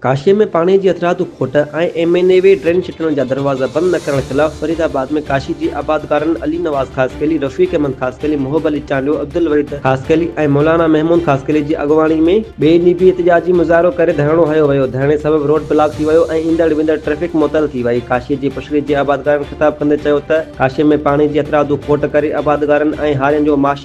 ڪاشي ۾ پاڻي جي هٿرادو کوٽ ۽ M N A V drain ڇٽڻ جا دروازا بند نه ڪرڻ خلاف فريد آباد ۾ ڪاشي جي آبادگارن علي نواز خاصخيلي، رفيق احمد خاصخيلي، محب علي چانڊيو، عبدالوحيد خاصخيلي ۽ مولانا محمود خاصخيلي جي اڳواڻي ۾ ٻئي ڏينهن به احتجاجي مظاهرو ڪري ڌرڻو هنيو ويو، ڌرڻي سبب روڊ بلاڪ ٿي ويو ۽ ايندڙ ويندڙ ٽريفڪ معطل ٿي وئي، ڪاشي جي پشري جي آبادگارن خطاب ڪندي چيو ته ڪاشي ۾ پاڻي جي هٿرادو کوٽ ڪري آبادگارن ۽ هارين جو معاشي.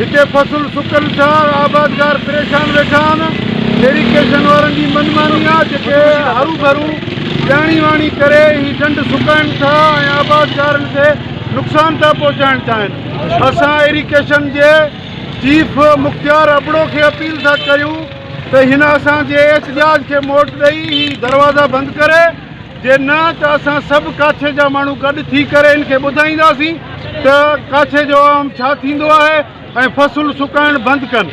هتي فصل سڪن سار آبادگار پريشان ويٺا آهن ايريڪيشن وارن جي من ماني آهي جيڪي هرو ڀرو ڄاڻي واڻي ڪري هي ڍنڍ سڪائين ٿا ۽ آبادگارن کي نقصان ٿا پهچائڻ چاهين اسان ايريڪيشن جي چيف مختيار ابڙو کي اپيل ٿا ڪريون ته هن اسان جي احتجاج کي موٽ ڏئي هي دروازا بند ڪري جي نه ته اسان سڀ ڪاڇي جا ماڻهو گڏ ٿي ڪري ان کي ٻڌائينداسين ته ڪاڇي جو عوام ڇا ٿيندو آهي ۽ فصل سڪائڻ بند ڪن.